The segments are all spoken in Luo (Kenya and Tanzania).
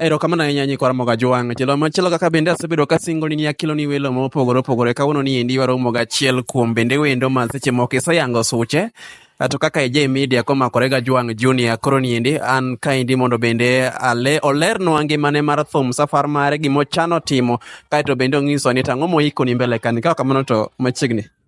Erokamano ahinya nyikwa Ramoga Jwang'. Chelo machielo kaka bende asebedo ka singo ni akelo ni welo mopogore opogore kawuono ni endi waromo gachiel kuom bende wendo ma seche moko iseyango suche to kaka ije media komakore ga Jwang' Junior koro ni endi an kaendi mondo bende ale olernwa ngimane mar thum safar mare gimochano timo kaeto bende onyiso ni tang'o moikoni mbele kani ka kamano to machiegni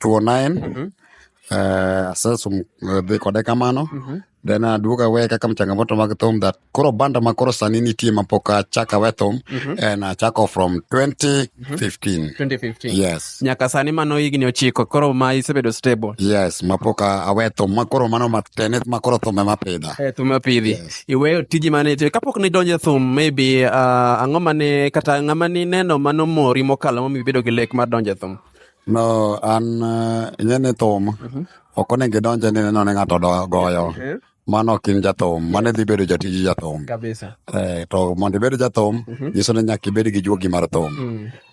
209 mm -hmm. Uh, sasa uh, kode kamano mm -hmm. then aduoga uh, we kaka mchangamoto mag thum that koro banda ma koro sani nitie ma pok achaka we thum mm -hmm. and achako from 2015 mm -hmm. 2015 yes nyaka sani mano higni ochiko koro ma isebedo stable yes ma pok awe thum ma koro mano matene ma koro thum ema pidha eh, thum apidhi yes. iweyo tiji mane itiyo kapok nidonje thum maybe uh, ang'o mane kata ng'ama nineno mano mori mokalo momiyo ibedo gi lek mar donje thum No, an eh, ing'e ni thum ok onego idonje ni neno ni ng'ato do- goyo. Mano ok in jathum, mano idhi bedo jatij jathum. Kabisa. Eh, to mondo ibed jathum, nyiso ni nyaka ibed gi juogi mar thum.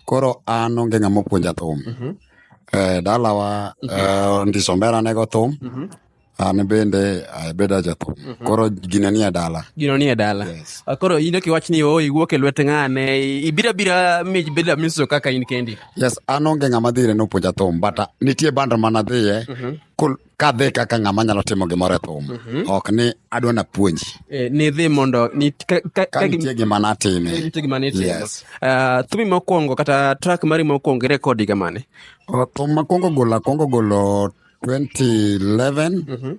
Koro an onge ng'ama opuonja thum. Eh, dalawa eh, ndiso mbera nego thum, An bende abedo jathum. Mhm. Koro gina nie dala. Gino nie dala. Yes. Ah, Koro in ok iwach ni o iwuok e lwet ng'ane, ibira bira mi beda miso kaka in kendi. Yes, an onge ng'ama dhire ni opuonja thum, but ah, nitie band mana dhiye Mhm. kul- kadhi kaka ng'ama nyalo timo gimoro e thum. Mhm. Ok ni adwa napuonji. Eh, ni dhi mondo ni ka, ka, Ka ka, nitie gima natime. nitie gima ni timo. Yes. Ah, thumi mokwongo kata track mari mokwongo irekodi kamane? O, Thum makwongo golo, akwongo golo 2011 Mhm.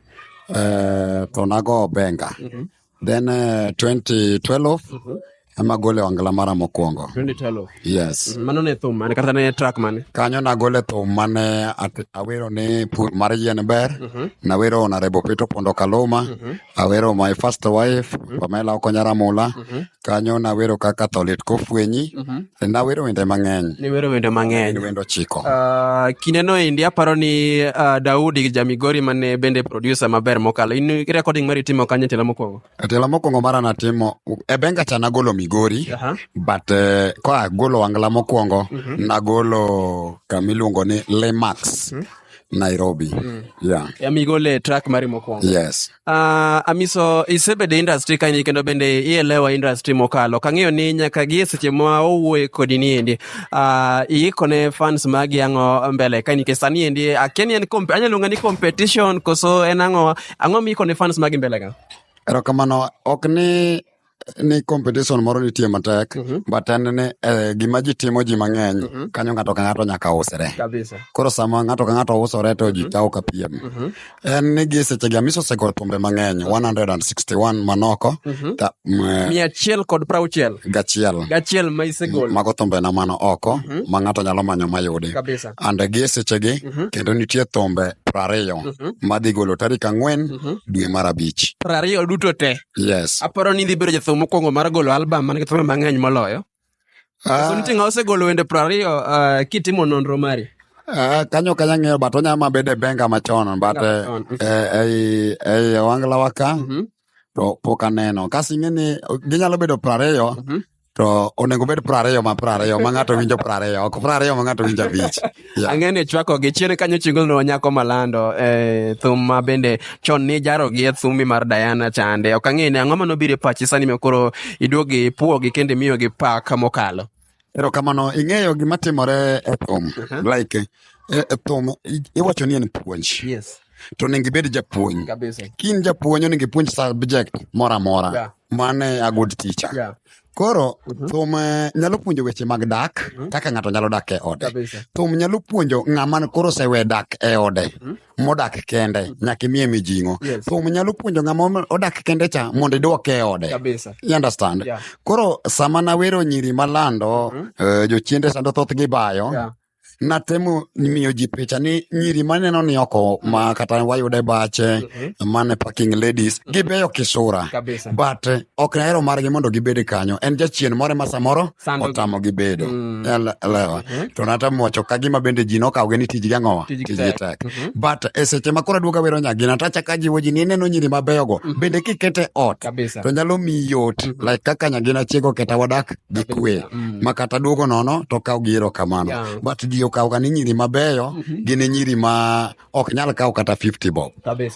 uh, to nago benga Mhm. then uh, 2012 Mhm. ema gole wangla mara mokwongo 2012. yes Mano ne thum mane kata ne track mane? kanyo nagole thum mane at- awero ni pur mar yien ber Mhm. nawero onarebo pito pondo kaluma Mhm. Awero my first wife, mm-hmm. Pamela Okonya Ramula. Mm-hmm. Kanyo nawero kaka to lit kofwenyi. Mm-hmm. E nawero wende mang'eny. Niwero wende mang'eny. Ni wendo chiko. Uh, kineno endi aparo ni uh, Daudi Jamigori mane bende producer maber mokalo. In recording mari timo kanye tela mokwongo? Tela mokwongo mara natimo e benga cha nagolo Migori. Uh-huh. But uh, kwa golo angla mokwongo mm-hmm. nagolo kamiluongo ni Lemax. Mm-hmm. Nairobi. Mm. Yeah. Ya migole track mari mokwongo. Yes. Uh, Amiso isebedo industry kanyi kendo bende ielewa industry mokalo. Kang'eyo ni nyaka gi seche ma owuoye kodi ni endi. Uh, ah, iikone fans magi ang'o mbele kanyi ke sani endi akia ni en anyalo ng'ani competition koso en ang'o ang'o miikone fans magi mbele ga? Erokamano ok ni ni competition moro nitie matek Mhm. but en ni eh, gima ji timo ji mang'eny Mhm. kanyo ng'ato ka ng'ato nyaka usre kabisa koro sama ng'ato ka ng'ato usore to ji kawo ka piem Mhm. en ni gi sechegi amisi osegolo thumbe mang'eny 161 manoko Mhm. ta- m- eh, mia achiel kod prauchiel gachiel gachiel ma isegol mago thumbe na mano oko Mhm. ma ng'ato nyalo manyo mayudi kabisa and gi sechegi Mhm. kendo nitie thumbe prariyo Mhm. madhi golo tarik ang'wen Mhm. dwe mar abich prariyo duto te Yes. Aparo ni idhi bedo jathum mokwongo mar golo album man gi thumbe mang'eny moloyo. Ah. Soniti nga osegolo wende piero ariyo ah, kitimo nonro mari. Ah, kanyo kanya ng'eyo but onya ma bede benga machon but eh, Machon, mhm. eh, ei ei owangla waka Mhm. to pok aneno kasi ing'e ni ginyalo bedo prariyo Mhm. to onego obed piero ariyo ma piero ariyo ma ng'ato winjo piero ariyo ok piero ariyo ma ng'ato winjo abich yeah. ang'e ni chwako gi chien kanyo chingul no nyako malando e thum ma bende chon ni jaro gi e thumbi mar Diana chande ok ang'e ni ang'o ma nobiro e pachi sani ma koro iduogi puo gi kendo imiyo gi pak mokalo ero kamano ing'eyo gima timore e thum uh-huh. like e, e thum iwacho ni en puonj yes to onego ibed japuonj kin japuonj onego ipuonj subject moro amora yeah. Mano e a good teacher. Yeah. Koro Mhm. thum eh, nyalo puonjo weche mag dak Mhm. kaka ng'ato nyalo dak e ode. Kabisa. Thum nyalo puonjo ng'ama koro osewe dak e ode Mhm. modak kende nyaka imiye mijing'o. Yes. Thum nyalo puonjo ng'ama odak kende cha mondo idwoke e ode. Kabisa. You understand? Yeah. Koro sama nawero nyiri malando Mhm. eh, jochiende sando thoth gibayo Yeah. natemo miyo ji picha ni nyiri maneno ni oko ma kata wayudo e bache mane parking ladies gibeyo kisura Kabisa. but eh, ok nahero margi mondo gibed kanyo en jachien moro ma samoro Sando gi. otamo gi bedo Mm. Ele- elewa to natemo wacho ka gima bende ji nokawgi ni tijgi ang'owa Tijgi tijgi tek. tek Mhm. but e seche ma koro aduoga wero nyagina tachaka jiwo ji ni ineno nyiri mabeyogo bende kikete ot Kabisa. to nyalo miyi yot like kaka nyagina chiego keta wadak gi kwe mm. ma kata duogo nono to kaw gi erokamano yeah. but ji okawga ni nyiri mabeyo mm -hmm. gin e nyiri ma ok nyal kawo kata 50 bob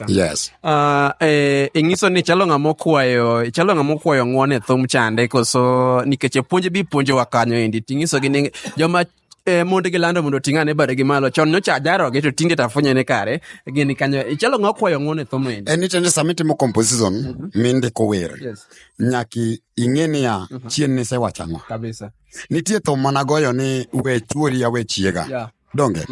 yes uh, eh, ing'iso ni chalo ng'a mokwayo chalo ng'a mokwayo ng'won e thum chande koso nikech e puonj bi puonjowa kanyo endi ting'isogi ni joma e, monde gi lando mondo ting' ane bade gi malo chon nyocha ajaroge to tinde tafunya ne kare gini kanyo ichalo ng'a kwayo ng'o ne thomo ende en itende sama itimo composition mhm. mindiko wer nyaki ing'e niya mhm. chien ni sewachang'o nitie thum mana goyo ni we chuori ya we chiega donge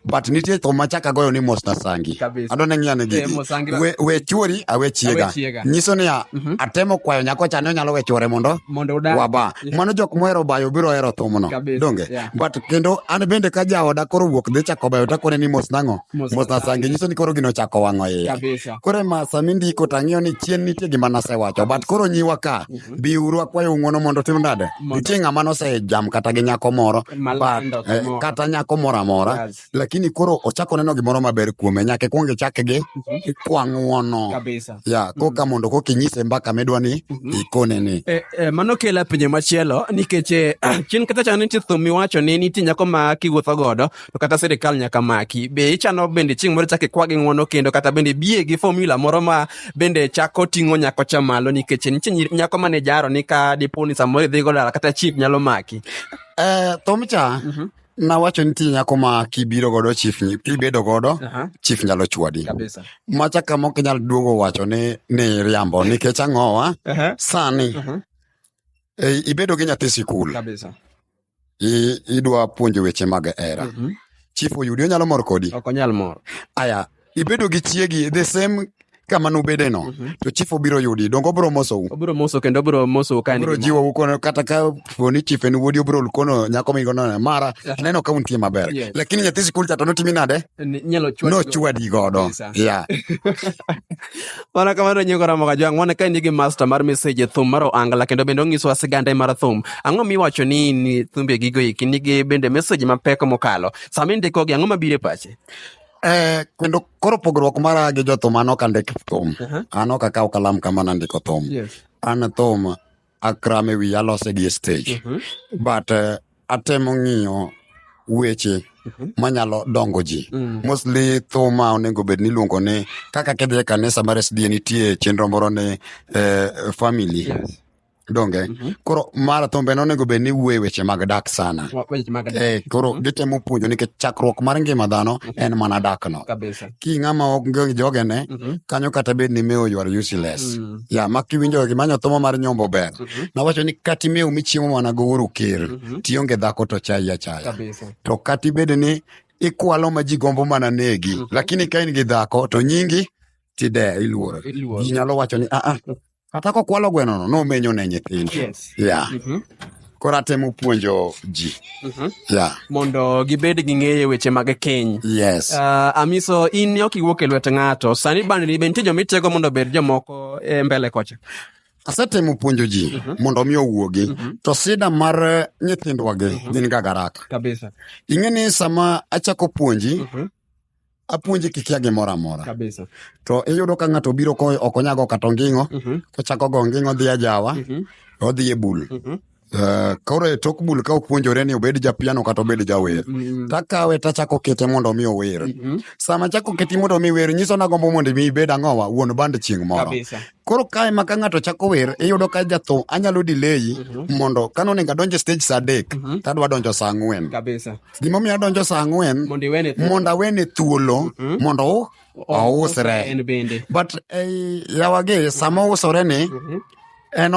but nitie thum machaka goyo ni mos na sangi Kabisa. adwa ne ng'iyane Eh, mos sangi la- we, we chuori awe chiega Awe chiega. nyiso niya Mhm. atemo kwayo nyako cha ni onyalo we chuore mondo mondo udag waba Yeah. mano jok mohero bayo biro hero thumno Kabisa, donge yeah. but kendo an bende ka jaoda koro wuok dhi chako bayo takone ni mos nang'o Mos mos na na sangi nyiso ni koro gino chako wang'o iya kabisa koro ma sami ndiko tang'iyo ni chien nitie gima nasewacho but koro nyiwa ka biuru akwayo ng'uono mondo tim nade nitie ng'ama nosejam kata gi nyako moro eh, kata nyako moro amora lakini koro ochako neno gimoro maber kuome nyaka ikwong ichak gi mhm. kwa ng'uono ya mhm. koka mondo koka inyise mbaka midwa ni mhm. ikone ni eh, eh, mano kela pinje machielo nikech chien kata chano nitie thum miwacho ni nitie nyako ma kiwuotho godo to kata sirikal nyaka maki. Be ichano bende chieng' moro chak ikwa gi ng'wono kendo kata bende biye gi formula moro ma bende chako ting'o nyako cha malo nikech nitie nyiri- nyako mane jaro ni ka dipo ni samoro idhi go dala kata chief nyalo maki. Eh, thomcha nawacho ni nitie nyako ma kibiro godo chief ni- kibedo godo Aha. chief nyalo chwadi Kabisa. macha kama ok inyal duogo wacho ni ni riambo nikech ang'owa Aha. sani Aha. eh, ibedo gi nyathi sikul Kabisa. i- idwa puonjo weche mag hera Mhm. chief oyudi onyalo mor kodi ok onyal mor aya ibedo gi chiegi the same kama nubede no Mhm. to chief obiro yudi donge obiro mosou obiro moso kendo obiro moso ka en obiro gi mor. jiwou kono kata ka poni chief en wuodi obiro kono nyako migo no mara neno ka untie maber Yes. lakini nyathi sikul cha to notimi nade Ni- inyalo chwad nochwadi godo Kabisa. yeah Mana kamano nyingo Ramogi Ajwang' mone ka nigi master mar message e thum mar Oangla kendo bende onyisowa sigande mar thum. Ang'o miwacho ni ni thumbe gigo eki nigi bende message mapek mokalo. Sama indikogi ang'o mabiro e pachi? Eh, kendo koro pogruok mara gi jothum an ok andik thum. Aha. An ok akaw kalam kama nandiko thum. Yes. An thum akram e wiye alose gi e stage Mhm. but eh, atemo ng'iyo weche Mhm. manyalo dongo ji Mm. mostly thuma onego bed ni iluongo ni kaka kidhi e kanisa mar sda nitie chenro moro ni eh, family Yes. donge Mhm. koro mara thumbe no onego bed ni wuoye weche mag dak sana Wa- weche mag dak. eh, koro gitemo puonjo nikech chakruok mar ngima dhano en mana dakno kabisa ki ng'ama ok ngi jogene mm -hmm. kanyo kata bed ni mewo ywar useless mm -hmm. ya ma kiwinjo gi manyo thomo mar nyombo ber mm -hmm. nawacho ni kati mewo michiemo mana go uru kir mm -hmm. tionge dhako to chai achaya to kati bed ni ikwalo ma ji gombo mana negi mm -hmm. lakini ka in gi dhako to nyingi tide iluoro ji nyalo wacho ni aa ah, ah, Kata kokwalo gwenono nomenyo ne nyithindo. Yes. Yeah. Mhm. Koro atemo puonjo ji. Mhm. Yeah. Mondo gibed gi ng'eyo weche mag keny. Yes. Ah, Amiso, in ne ok iwuok e lwet ng'ato. Sani bande ni be nitie joma itiego mondo obed jomoko e mbele kocha. Asetemo puonjo ji mondo mi owuogi. To sida mar eh, nyithindwagi gin ga garaka. Kabisa. Ing'e ni sama achako puonji, apuonji kikia gimoro amora kabisa to iyudo ka ng'ato obiro ko ok onyago kata onging'o Mhm, kochako go onging'o dhi ajawa mhm, odhi e bul mhm. Eh, koro e tok bul ka opuonjore ni obed japiano kata obed jawer Mm, takawe tachako kete mondo mi ower mhm. sama chako keti mondo mi wer nyiso nagombo mondo mi ibed ang'owa wuon band chieng' moro kabisa Koro kae ma ka ng'ato chako wer, iyudo ka jatho anyalo delay mhm. mondo ka nonego adonj e stage saa adek, mhm. to adwa donjo saa ang'wen. Kabisa. Gimomiyo adonjo saa ang'wen, mondo awene thuolo, mhm. mondo ousre. But eh, yawagi, sama ousore ni, en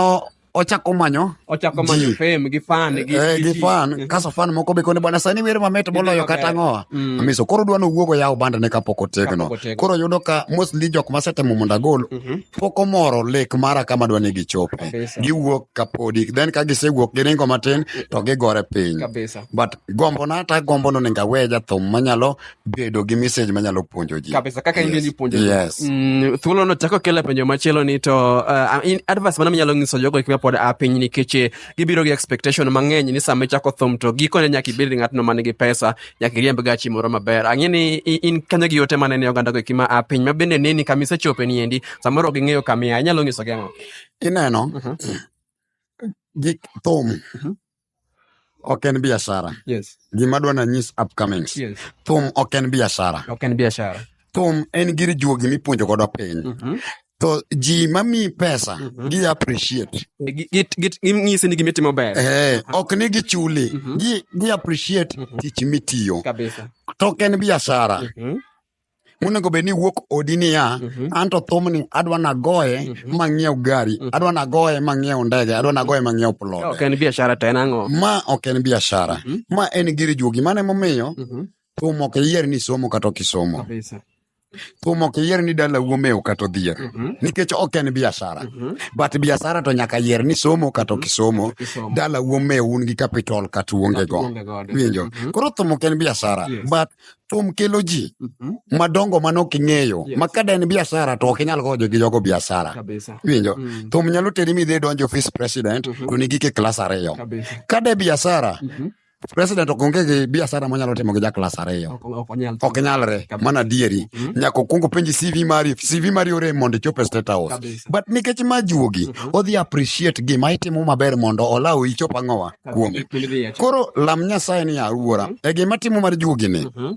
ochako manyo ochako manyo ji. fame gi fan gi Eh, gi ji. fan kaso fan moko be kone bwana sani wer mamit moloyo maber. kata ang'owa Mm. amiso koro dwa nowuog oyaw bandane kapok otegno Kapok otegno. koro yudo ka mostly jok masetemo mondo agol Mhm. pok omoro lek mara kama dwa ni gichope Kabisa. giwuok kapodi then ka gisewuok giringo matin to gigore piny kabisa but gombona to agombo ni onego awe jathum manyalo bedo gi message manyalo puonjo ji kabisa kaka yes. ni puonjo yes. mm, thuolo no chako kele penjo machielo ni to uh, in advice mana minyalo nyiso jogo kika pod a piny nikech eh, gibiro gi expectation mang'eny ni sama ichako thum to gikone nyaka ibed ng'atno man gi pesa nyaka iriemb gachi moro maber ang'e ni in kanyo gi yote mane ne oganda go kima a piny ma bende neni kama isechope ni endi samoro ging'eyo kamiya inyalo nyiso gi ang'o ineno uh mhm. -huh. gik thum uh mhm. -huh. ok en biashara yes gima dwa nanyis upcomings yes thum ok en biashara ok en biashara thum en gir juogi mipuonjo godo piny Mhm. to ji mamiyi pesa Mhm. gi appreciate Gi- gi- gi- ging'isi ni gima itimo ber eh, ok ni gichuli Mhm. gi, gi appreciate Mhm. tich mitiyo kabisa to ok en biashara Mhm. monego bed ni wuok odi niya mhm. an to thumni adwa nagoye mhm. mang'iew gari mhm. adwa nagoye mang'iew ndege adwa nagoye mang'iew plot ok en biashara to en ang'o ma ok en biashara ma en gir juogi mano emomiyo thum ok iyier ni somo kata ok isomo thum ok iyier ni dala wuomewo kata odhier mhm. nikech ok en biashara mhm. but biashara to nyaka yier ni somo kata ok isomo dala wuomewo un gi capital kata uonge go winjo mhm. koro thum ok en biashara but thum kelo ji Mhm. madongo mane ok ing'eyo Yes. ma ka da en biashara to ok inyal goyo jogi jogo biashara Kabisa. iwinjo Mm. thum nyalo teri midhi idonjo ofis president Mhm. to nigi ke klas ariyo Kabisa. ka de biashara Mhm. president ok onge gi biashara monyalo timo gi ja klas ariyo Ok- ok onyal. ok nyalre Kabisa. mana adieri Mhm. nyaka okuongo penji cv mari cv mari ore mondo ichop e state house Kabisa. but nikech ma juogi odhi appreciate gima itimo maber mondo olaw ichop ang'owa kuome koro lam nyasaye ni awuora mhm. e gima timo mar jugini mhm.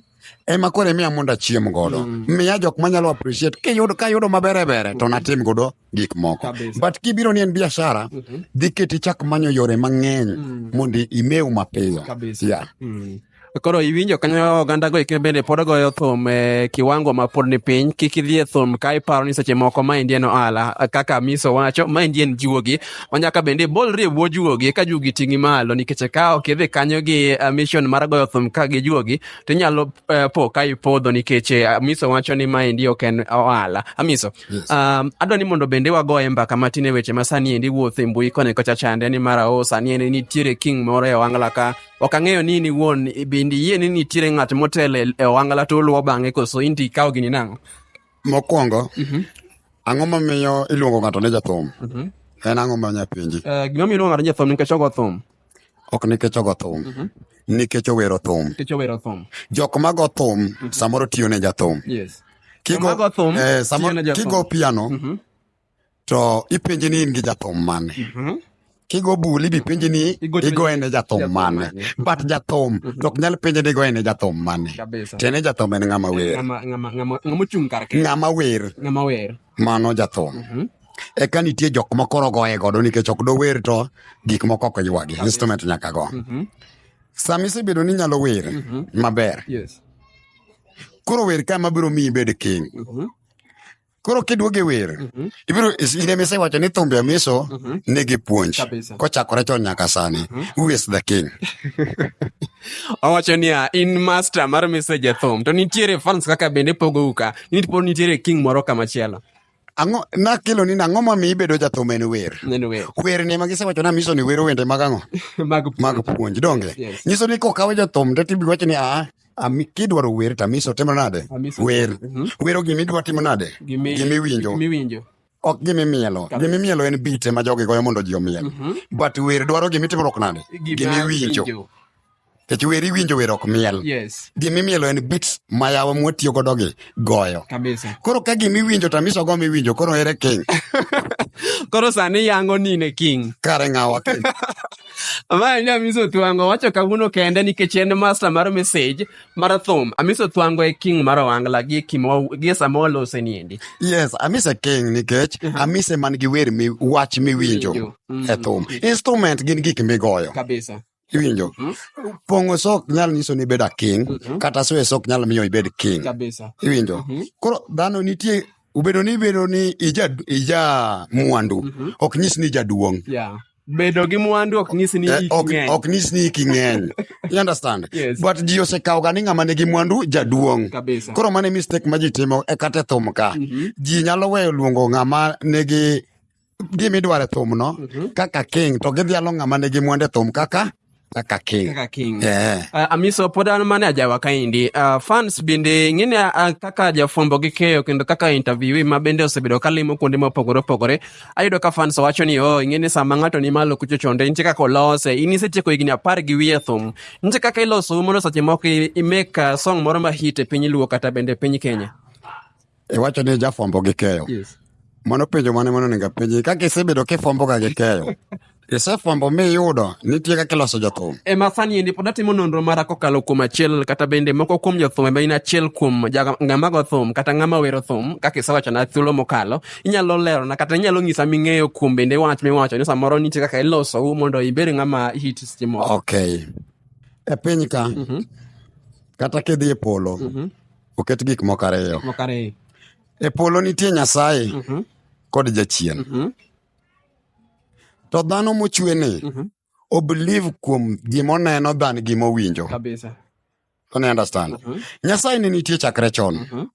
ema koro emiya mondo achiem godo mm. miya jok manyalo appreciate kiyudo kayudo mabere bere to mhm. natim godo gik moko but kibiro ni en biashara dhi keti chak manyo yore mang'eny mm. mondo imew mapiyo yeah. Mm. Koro iwinjo kanyo oganda go ike bende pod goyo thum e kiwango ma pod ni piny. Kik idhi e thum ka iparo ni seche moko ma indien ohala. Kaka Miso wacho, ma indien juogi. Ma nyaka bende ibolri e bwo juogi ka juogi ting'i malo nikech ka ok idhi kanyo gi uh, mission mar goyo thum ka gi juogi to inyalo uh, po ka ipodho nikech uh, Miso wacho ni ma endi ok en ohala. Amiso, yes. um, adwa ni mondo bende wagoye mbaka matin e weche ma sani endi wuotho e mbui koni kocha chande ni mara o oh, sani endi nitiere king moro e wangla ka ok ang'eyo ni in iwuon bende iyie ni nitiere ng'at motelo e- e owangla to oluwo bang'e koso in to ikawo gini nang'o mokwongo ang'o mamiyo iluongo ng'ato ni jathum en ang'o ma nyapenji Eh, gima miyo iluongo ng'ato ni jathum nikech ogo thum ok nikech ogo thum nikech owero thum nikech owero thum jok mago thum samoro tiyo ne jathum yes Kigo- Joma go thum, eh, samo- tiyo ne jathum. kigo piano to ipenje ni in gi jathum mane Mhm. kigo bul ibi penje ni Igo- igoye ne jathum jathum mane mane. but jathum to ok nyal penje ni igoye ne jathum mane Kabisa. tiende jathum en ng'ama wer Ng'ama ng'ama ng'ama ng'ama ochung' kar kende. ng'ama wer Ng'ama wer. mano jathum Mhm. eka nitie jok ma koro goye godo nikech ok dower to gik moko ok ywagi instrument nyaka go Mhm. sama isebedo ni inyalo wer Mhm. maber Yes. koro wer ka mabiro miyi bed king Mhm. koro kiduoge wer Mhm. ibiro ine mise wacho ni thumbe amiso Mhm. nigi puonj Kabisa. kochakore chon nyaka sani who is the king owacho niya in master mar message e thum to nitiere fans kaka bende pogou ka nipo nitiere king moro kamachielo ang'o nakelo ni nang'o mamiyo ibedo jathum en wer neno wer wer ni ema gisewacho ni amiso ni wero wende mag ang'o mag mag puonj donge Yes. nyiso ni kokawe jathum to tibi wacho ni aa Ami kidwaro wer to Amisa otimo nade? Amisa- Wer. Mhm. Wero gima idwa timo nade? Gimi- Gima iwinjo. gima iwinjo. Ok gima imielo. Kabisa. Gima imielo en beat ema jogi goyo mondo ji omiel. Mhm. But wer dwaro gima itimruok nade? Gima Gima iwinjo. iwinjo. Nikech wer iwinjo wer ok miel. Yes. Gima imielo en beats ma yawa mwatiyo godo gi goyo. Kabisa. Koro ka gima iwinjo to Amisa ogo miwinjo koro ere king. Koro sani yango nine king. Kare ng'awa king. Mae ni Amiso Thwango wacho kawuono kende nikech en master mar message mar thum. Amiso Thwango e king mar Owangla gi kimo gi sama walose niendi. Yes, Amise King nikech Amise man gi wer mi wach miwinjo Winjo. Mm. e thum. Instrument gin gik migoyo. Kabisa. Iwinjo? Pong'o sok nyalo nyiso ni ibeda king kata soe sok nyalo miyo ibed king. Kabisa. Iwinjo? Koro dhano nitie ubedo ni ibedo ni ija ija mwandu ok nyis ni jaduong'. Yeah. bedo gi mwandu ok nyis ni eh, ok ng'eny ok nyis ni iki ng'eny you understand yes. but ji osekawo ga ni ng'ama nigi mwandu jaduong kabisa koro mane mistake ma ji timo e kate thum ka mm -hmm. ji nyalo weyo luongo ng'ama nigi gima idwaro e thumno mm -hmm. kaka king to gidhialo ng'ama nigi mwandu e thum kaka kaka king kaka king yeah. uh, amiso pod an mane ajawa kaendi uh, fans bende ing'eni uh, ah, kaka jafwambo gi keyo kendo kaka interview ma bende osebedo kalimo kuonde mopogore opogore ayudo ka fans wacho ni oh ing'eni sama ng'ato ni malo kucho chonde nitie kaka olose in isetieko higni apar gi wiye thum nitie kaka iloso mondo seche moko imeka song moro ma hit e piny luo kata bende e piny kenya iwacho ni jafwambo gi keyo yes. mano penjo mane mano onego apenji kaka isebedo kifwamboga gi keyo isefwambo miyudo nitie kaka iloso jothum e ma sani endi pod atimo nonro mara kokalo kuom achiel kata bende moko kuom jothum ema in achiel kuom ng'amago thum kata ng'ama wero thum kaka isewachona thuolo mokalo inyalo lerona kata inyalo nyisa ming'eyo kuom bende wach miwacho ni samoro nitie kaka iloso u mondo ibed ng'ama hit seche moko okay e piny ka mm -hmm. kata kidhi e polo mm -hmm. Oket gik moko ariyo. Gik moko ariyo. E polo nitie Nyasaye mm -hmm. kod jachien. Mm -hmm. To dhano mochwe ni mm -hmm. obliv kuom gima oneno dhan gima owinjo. Kabisa. Don't you understand? Mm -hmm. Nyasaye ne nitie chakre chon. Mm -hmm.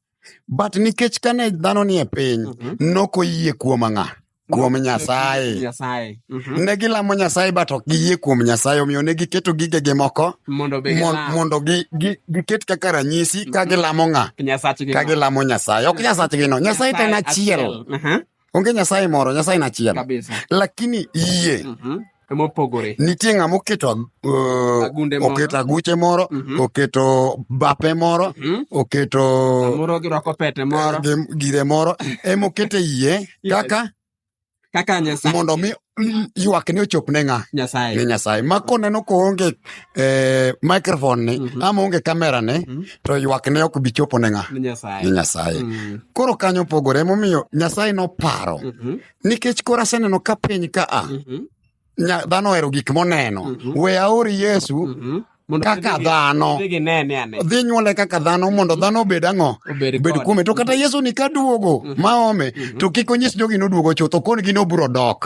But nikech kane dhano ni e piny, mm -hmm. nokoyie kuom ang'a. kuom Kuom Nyasaye. Nyasaye. Mhm. Ne gilamo Nyasaye but ok giyie kuom Nyasaye omiyo ne giketo gigegi moko Mondo be mon- gilam mondo gi- gi- giket kaka ranyisi ka gilamo ng'a Nyasachgi. ka gilamo Nyasaye. Ok Nyasachgi no, Nyasaye to en achiel. Aha, Onge Nyasaye moro, Nyasaye en achiel. Kabisa. Lakini yie Mhm. mopogore. Nitie ng'ama oketo uh, Agunde moro. oketo aguche moro, Mhm. oketo bape moro, Mhm. oketo Moro girwako pete moro gim- gire moro ema oketo e iye Yes. kaka kaka Nyasaye. mondo mi mm, ywakne ochop ne ng'a ne Nyasaye. Nyasaye. Ma koneno koonge eh, microphone ni Mhm. ama onge kamera ni Mhm. to ywakne ok bi chopo ne ng'a Ne ne Nyasaye. Nyasaye. Mm. Koro kanyo opogore emomiyo Nyasaye noparo Mhm. Nikech koro aseneno ka piny ka a mhm. dhano ohero gik moneno. Mhm. We aor Yesu mhm. kaka dhano dhi nyuole kaka dhano mondo dhano obed ang'o obed kuome to kata yesu ni ka duogo ma ome to kik onyis jogi noduogo chuth okon gi noburo dok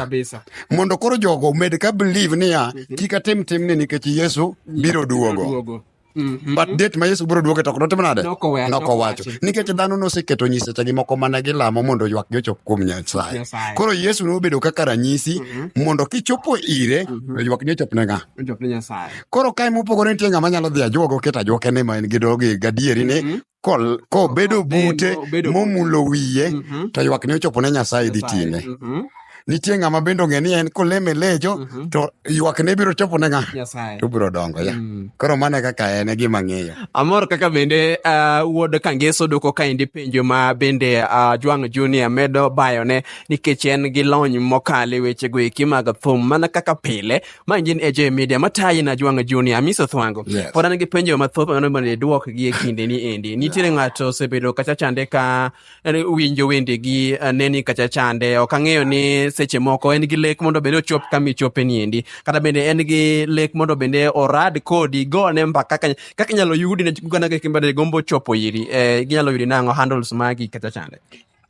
mondo koro jogo omed ka believe niya kik atim timni nikech yesu biro duogo Mhm. but date ma yesu biro duoke to ok notim nade Noko we- noko wacho nowachi. nikech dhano noseketo nyisechegi moko mane gilamo mondo ywakgi ochop kuom nyasaye Nyasaye. koro yesu nobedo kaka ranyisi mondo kichopo ire to ywakni ochop ne ng'a Ojok ne Nyasaye. koro kae mopogore nitie ng'ama nyalo dhi ajuogo ket ajuoke ni ma en gi dogi gadieri ni kol- kobedo bute Odengo, obedo bute. momulo wiye Mhm. to ywakne ochopo ne nyasaye dhi ting'e Mhm. nitie ng'ama bende ong'e ni en koleme lecho Mhm. to ywakne biro chopo ne ng'a Nyasaye. to biro dongo ya Mm. koro mano e kaka en e gima ng'eyo Amor kaka bende uh, wuod Kangeso doko kaendi penjo ma bende uh, Jwang Junior medo bayone nikech en gi lony mokalo e wechego eki mag thum mana kaka pile Ma gin AJ Media matayi na Jwanga Junior Amiso Thwango. Yes. Pod an gi penjo mathoth mano mondo idwok gi e kinde ni endi. Nitiere ng'ato osebedo kacha chande ka eh, winjo wende gi eh, neni kacha chande. Ok ang'eyo ni seche moko en gi lek mondo bende ochop kama ichope ni endi. Kata bende en gi lek mondo bende orad kodi go ne mbaka kaka kaka inyalo yudi ne gana kaka imbade gombo chopo iri. Eh, ginyalo yudi nang'o handles magi kacha chande.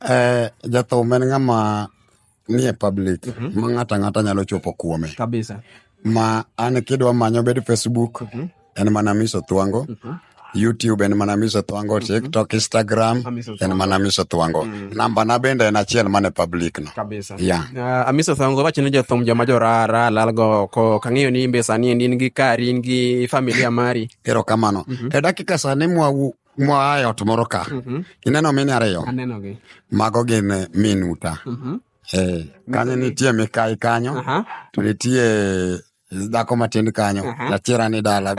Eh, jathum en ng'ama nie public mhm. ma ng'ato ang'ata nyalo chopo kuome kabisa ma an kidwa manyo bed facebook mhm. en mana miso thwango mhm. youtube en mana miso thwango tiktok instagram en mana miso thwango mm. namba na bende en achiel mane public no yeah. uh, amiso thwango wacho ni jothum joma jorara lalgo oko kang'eyo ni imbe sani endi in gi kari in gi familia mari erokamano mm -hmm. e dakika sani mwawu Moa e ot moro ka. Mhm. Ineno mine ariyo? Aneno gi. Mago gin eh, minuta. Mhm. Eh, kanyo nitie mikai kanyo, Aha. to nitie dhako matin kanyo, Aha. jachira ni dala.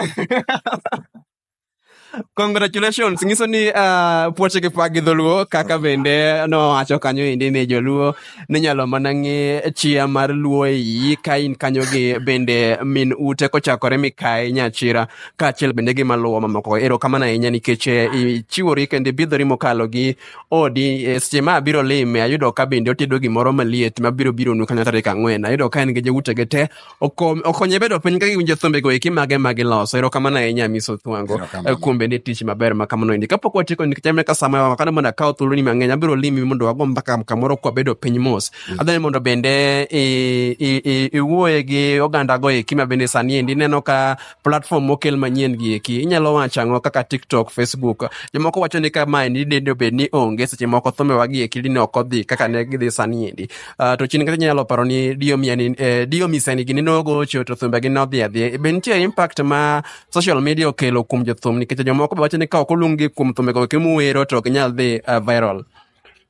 Congratulations. Nyiso ni uh, puoche gi pagi dholuo kaka bende nowacho kanyo endi ni joluo ninyalo mana ng'e chia mar luo e iyi ka in kanyo gi bende min ute kochakore mikayi nyachira kaachiel bende gi maluwo mamoko erokamano ahinya nikech eh, ichiwori kendo ibidhori mokalo gi odi eh, seche ma abiro lime ayudo ka bende otedo gimoro maliet mabiro bironu kanyo tarik ang'wen ayudo ka en gi joutege te okom- okonye bedo piny ka giwinjo thumbe go eki mage ma giloso erokamano ahinya miso thwango Erokamano. eh, kuom bende tich maber ma kamano endi kapok watieko nikech amne ka sama wakano mondo akaw thuoloni mang'eny abiro limi mondo wago mbaka kamoro kwabedo piny mos adhani mondo bende i- i- i- iwuoye gi oganda go eki ma bende sani endi ineno ka platform mokel manyien gi eki inyalo wacho ang'o kaka tiktok facebook jomoko wacho ni ka mae ni dende obed ni onge seche moko thumbewa gi eki dine ok odhi kaka ne gidhi sani endi uh, to chien kata inyalo paro ni diomiani eh, diomisani gini nogocho to thumbe gi nodhi adhiya e be nitie impact ma social media okelo kuom jothum nikech jomoko be wacho ni ka ok oluonggi kuom thumbego eki muwero to ok inyal dhi uh, viral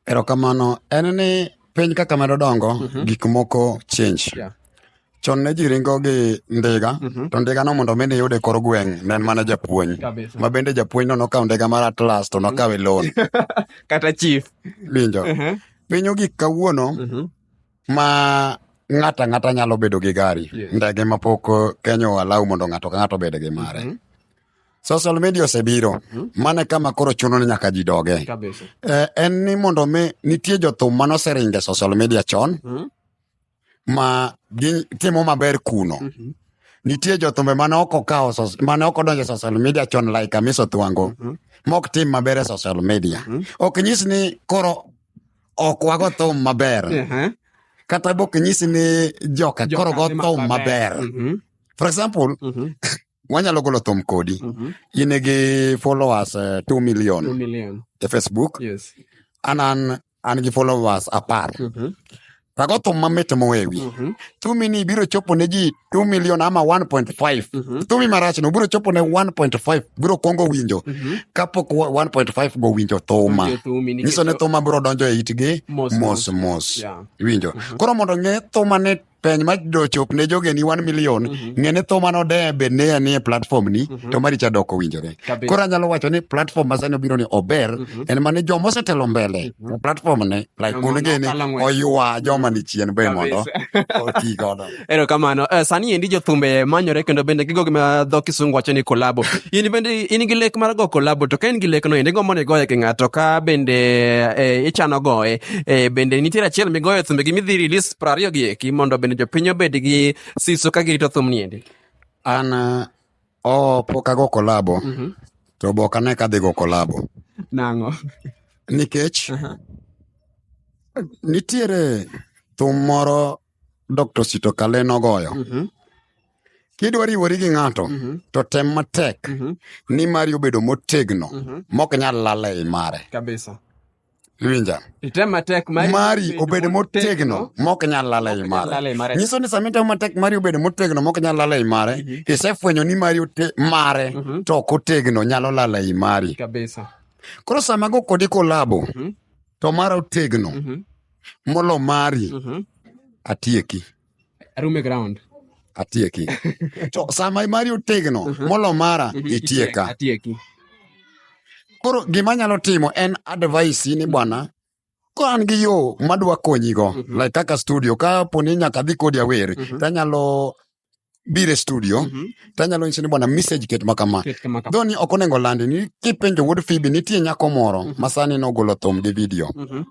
erokamano en ni piny kaka medo dongo mm -hmm. gik moko change yeah. chon ne ji ringo gi ndiga mm -hmm. to ndiga no mondo mi niyude kor gweng' ne en mana japuonj ma bende japuonj no nokawo ndiga mar atlas to nokawe mhm. loan kata chief winjo uh mhm. -huh. piny ogik kawuono uh mhm. -huh. ma ng'ata ng'ata nyalo bedo gi gari yes. ndege mapok eh, kenya oalau mondo ng'ato ka ng'ato obed gi mare uh -huh. social media osebiro uh -huh. mane kama koro chuno ni nyaka ji doge eh, en ni mondo mi nitie jothum manoseringe social media chon uh -huh ma gitimo maber kuno mm -hmm. nitie jothumbe mane ok okawo mane ok odonjo e social media chon like amiso thwango mm -hmm. mok tim maber e social media mm -hmm. ok nyis ni koro ok wago thum maber uh mhm. -huh. kata bok nyis ni joka koro go thum maber mm -hmm. for example mm -hmm. wanyalo golo thum kodi mm -hmm. in gi followers uh, eh, 2 million, 2 million e facebook yes. anan an gi followers apar Mhm. rago thum mamit mowewi Mhm. thumi ni biro chopo ne ji 2 million ama 1.5 Mhm. thumi marach no biro chopo ne 1.5 biro kwongo winjo Mhm. kapok wa- 1.5 go winjo thuma Winjo thumi nikech- nyiso ni thuma biro donjo e itgi Mos, mos mos. mos Yeah. iwinjo koro mondo ng'e thuma ni peny ma do chop ne jogeni 1 million mm-hmm. ng'e ni tho mane odeye be ne ya nie platform ni mm-hmm. to maricha dok owinjore koro anyalo wacho ni platform ma sani obiro ni ober mm-hmm. en mane joma osetelo mbele mm-hmm. platform ne like un gini oywa joma ni chien be mondo oti godo ero kamano uh, sani endi jothumbe manyore kendo bende gigo gima dho kisungu wacho ni kolabo in bende in gi lek mar go kolabo to ka in gi lek no endi gombo ni goye gi ng'ato ka bende eh, ichano goye eh, bende nitiere achiel migoye thumbe gi midhi release piero ariyo gi eki mondo bende jopiny obed gi siso ka girito thum niendi an oh, pok ago kolabo mm -hmm. to be ok ane ka adhi go kolabo nang'o nikech uh -huh. nitiere thum moro dr sito kale nogoyo mm -hmm. kidwa riwori gi ng'ato mm -hmm. to tem matek mm -hmm. ni mari obedo motegno mm -hmm. mok nyal lala e i mare kabisa Iwinja? Item matek mari, mari obed motegno mok nyal lal ei mare. Nyiso ni sama itemo matek mari obed motegno mok nyal lal ei mare, mm -hmm. isefwenyo ni mari ote, mare mm -hmm. to ok otegno nyalo lal ei mari. Kabisa. Koro sama go kodi kolabo mm -hmm. to mara otegno mm -hmm. molo mari mm -hmm. atieki. arume ground atieki to sama mari otegno uh-huh. molo mara uh-huh. itieka atieki koro gima nyalo timo en advice ni bwana ko an gi yo madwa konyigo uh-huh. like kaka studio ka poni nyaka dhi kodi awer uh-huh. tanyalo bire studio mm -hmm. tanyalo nyise ni bwana message ket ma kama dho ni ok onego landi ni kipenjo wuod fibi nitie nyako moro mm -hmm. masani nogolo thum gi video mm -hmm.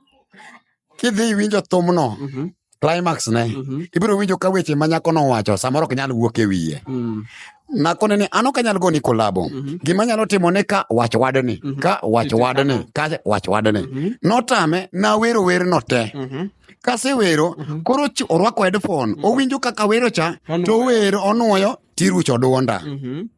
kidhi iwinjo thumno mhm. climax ne mhm. ibiro winjo ka weche ma nyako nowacho samoro ok nyal wuok e wiye mm. nakone ni an ok anyal goni kolabo mhm. gima nyalo timo ni ka wach wadni ka wach wadni ka wach wadni notame nawero werno te kasewero koro orwako headphone owinjo kaka wero cha to owero onwoyo tirucho dwonda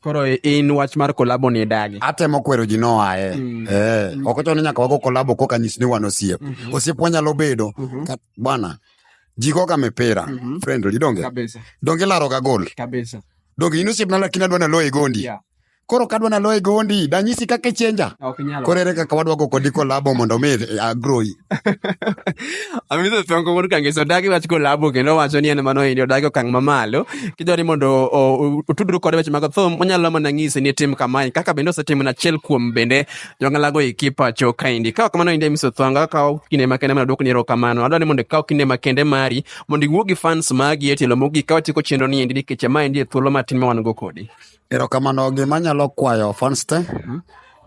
Koro in wach mar kolabo ni idagi. Atemo kwero ji noaye. Mm. Eh, mm. ok ochuno ni nyaka wago kolabo koka nyis ni wan osiep. Mm -hmm. Osiep wanyalo bedo. Mm -hmm. Bwana, ji goga mipira. Mm -hmm. Friendly, donge? Kabisa. Donge laro ga gol. Kabisa. Donge in osiep na lakini adwa na loye gondi. Yeah. Koro kadwa na loye gondi, danyisi kaka ichenja. Ok nyalo. Koro ere kaka wadwa go kodi kolabo mondo mi eh, agroi. Amitho thongo wuod kangeso odagi wach kolabo kendo wacho ni en mano endi odagi okang' mamalo kidwa ni mondo otudru kode weche mag thum onyalo mana ng'isi ni tim kamae kaka bende osetimo na achiel kuom bende jong'alago iki pacho kaendi ka ok mano endi Amiso Thongo akawo kinde makende mana duokni erokamano adwa ni mondo ikaw kinde makende mari mondo iwuo gi fans magi e tielo mogik ka watieko chenro ni endi nikech ma endi e thuolo matin ma wan go kodi erokamano gima nyalo kwayo fans te mhm.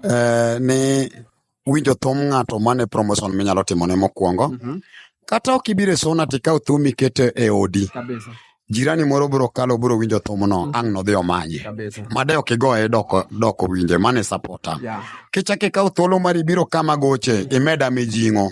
eh, ni winjo thum ng'ato mane promotion minyalo timone mokwongo mm -hmm. kata ok ibiro e sona to ikaw thum ikete e odi Kabisa. jirani moro biro kalo biro winjo thumno mm -hmm. ang' nodhi omanye made ok igoye doko, doko winje mane sapota yeah. kichako ikaw thuolo mari biro kama goche imeda mijing'o yeah.